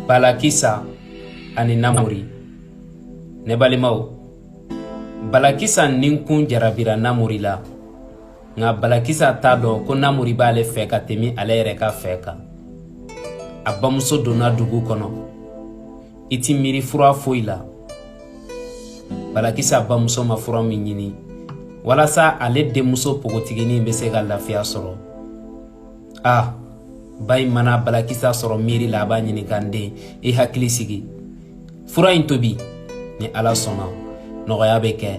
Balakisa ani Namori Ne balimaw Balakisa ninkun jarabira Namori la nka Balakisa t'a dɔn ko Namori b'ale fɛ ka tɛmɛ ale yɛrɛ ka fɛ kan a bamuso donna dugu kɔnɔ i ti miiri fura foyi la Balakisa bamuso ma fura min ɲini walasa ale denmuso pogotiginin bɛ se ka lafiya sɔrɔ ah ba in mana balakisa sɔrɔ miiri la a b'a ɲininka n den i hakili sigi fura in tobi ni ala sɔnna nɔgɔya bɛ kɛ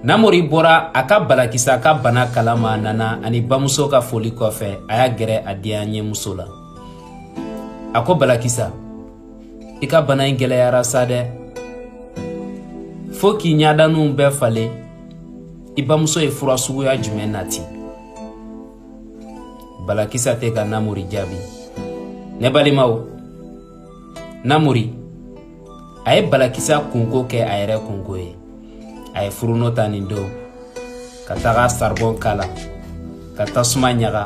namori bɔra a ka balakisa ka bana kala ma a nana ani bamuso ka foli kɔfɛ a y'a gɛrɛ a diyanyemuso la a ko balakisa i ka bana in gɛlɛyara sa dɛ fo k'i ɲadaninw bɛɛ falen i bamuso ye fura suguya jumɛn nati balakisa tɛ ka namori jaabi ne balimaw namori a ye balakisa kunko kɛ a yɛrɛ kunko ye a ye furunɔ ta nin don ka taga saribɔn k'a la ka tasuma ɲaga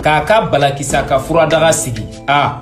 k'a ka balakisa ka furadaga sigi a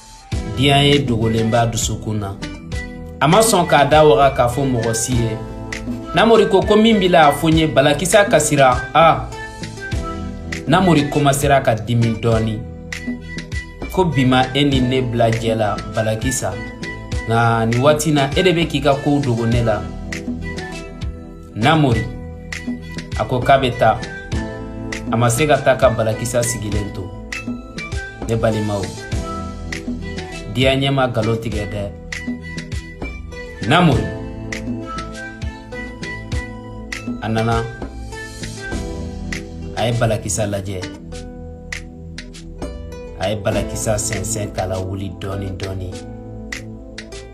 diyanye dogolen b'a dusukun na a ma sɔn k'a da waga k'a fɔ mɔgɔ si ye namori ko ko min b'i la a fɔ n ye balakisa kasira a namori komasera ka dimi dɔɔni ko bi ma e ni ne bila jɛ la balakisa nka nin waati na e de bɛ k'i ka kow dogo ne la namori a ko k'a bɛ taa a ma se ka taa ka balakisa sigilen to ne balimaw diyanye ma nkalon tigɛ dɛ namori a nana a ye balakisa lajɛ a ye balakisa sɛnsɛn k'a lawuli dɔɔni dɔɔni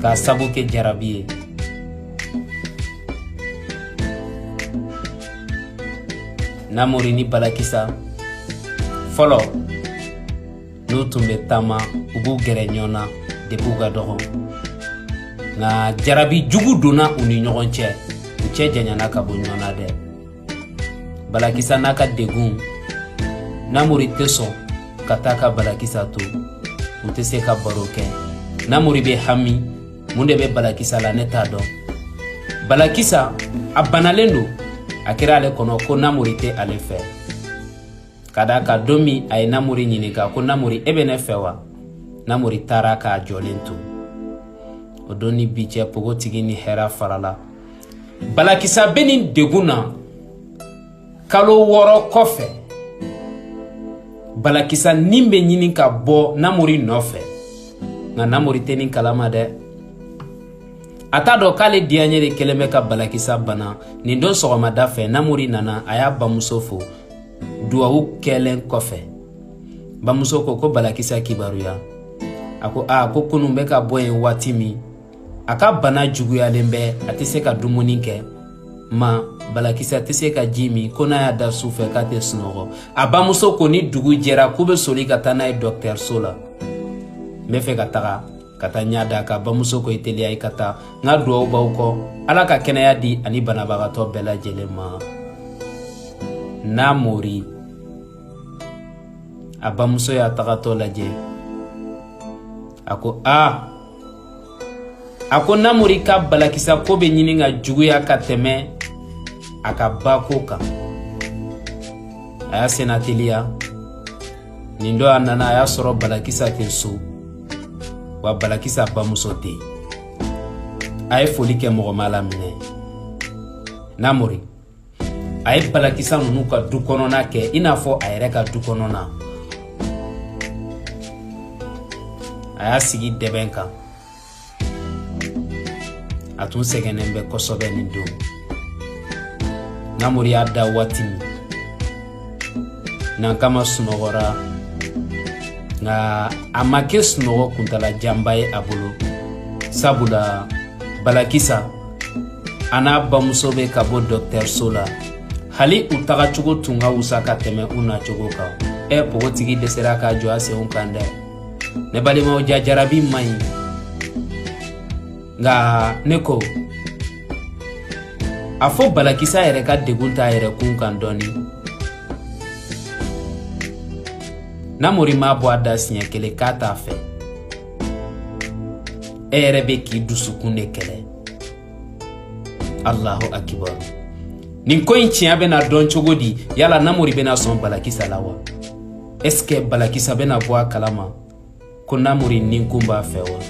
k'a sabu kɛ jarabi ye namori ni balakisa fɔlɔ n'u tun bɛ taama u b'u gɛrɛ ɲɔgɔn na depi u ka dɔgɔ nka jarabi jugu donna u ni ɲɔgɔn cɛ u cɛ janyana ka bɔ ɲɔgɔn na dɛ balakisa n'a ka degun namori tɛ sɔn ka taa ka balakisa to u tɛ se ka baro kɛ namori bɛ hami mun de bɛ balakisa la ne t'a dɔn balakisa a banalen don a kɛra ale kɔnɔ ko namori tɛ ale fɛ ka d'a kan don min a ye namori ɲininka ko namori e bɛ ne fɛ wa namori taara k'a jɔlen to o don ni bi cɛ pogotigi ni hɛra farala balakisa bɛ nin degun na kalo wɔɔrɔ kɔfɛ balakisa nin bɛ ɲini ka bɔ namori nɔfɛ nka namori tɛ nin kalama dɛ a t'a dɔn k'ale diyaɲɛ de kɛlen bɛ ka balakisa bana nin don sɔgɔmada fɛ namori nana a y'a bamuso fo duwawu kɛlen kɔfɛ bamuso ko ko balakisa kibaruya a ko a ko kunun bɛ ka bɔ yen waati min a ka bana juguyalen bɛ a tɛ se ka dumuni kɛ ma balakisa tɛ se ka ji min ko n'a y'a da su fɛ k'a tɛ sunɔgɔ a bamuso ko ni dugu jɛra k'u bɛ soli ka taa n'a ye dɔgɔtɔrɔso la n bɛ fɛ ka taga ka taa ɲɛ da a kan bamuso ko i teliya i ka taa n ka duwawu b'aw kɔ ala ka kɛnɛya di a ni banabagatɔ bɛɛ lajɛlen ma namori a bamuso y'a tagatɔ lajɛ a ko aa a ko namori ka balakisa ko bɛ ɲini ka juguya ka tɛmɛ a ka ba ko kan a y'a senna teliya nin don a nana a y'a sɔrɔ balakisa tɛ so wa balakisa bamuso tɛ yen a ye foli kɛ mɔgɔ m'a laminɛ namori a ye balakisa ninnu ka du kɔnɔna kɛ i n'a fɔ a yɛrɛ ka du kɔnɔna a y'a sigi dɛbɛn kan a tun sɛgɛnnen bɛ kosɛbɛ nin don namori y'a da waati min nankama sunɔgɔra nka a ma kɛ sunɔgɔ kuntala janba ye a bolo sabula balakisa a n'a bamuso bɛ ka bɔ dɔgɔtɔrɔso la hali u tagacogo tun ka wusa ka tɛmɛ u nacogo kan ɛ pogotigi dɛsɛra k'a jɔ a senw kan dɛ ne balimaw jaa jarabi man ɲi nka ne ko a fɔ balakisa yɛrɛ ka degun t'a yɛrɛ kun kan dɔɔni namori m'a bɔ a da siɲɛ kelen k'a t'a fɛ e yɛrɛ bɛ k'i dusukun de kɛlɛ alahu akibaru nin ko in tiɲɛ bɛna dɔn cogo di yala namori bɛna sɔn balakisa la wa est ce que balakisa bɛna bɔ a kalama ko namori ninkun b'a fɛ wa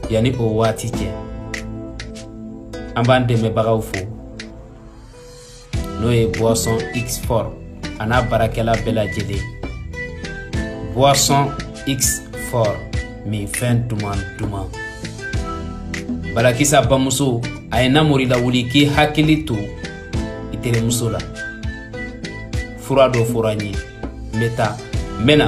yanni o waati cɛ an b'an dɛmɛbagaw fo n'o ye boisson xfort a n'a baarakɛla bɛɛ lajɛlen boisson xfort minfɛn duman duman balakisa bamuso a ye namori lawuli k'i hakili to i terimuso la fura dɔ fɔra n ye n bɛ taa n bɛ na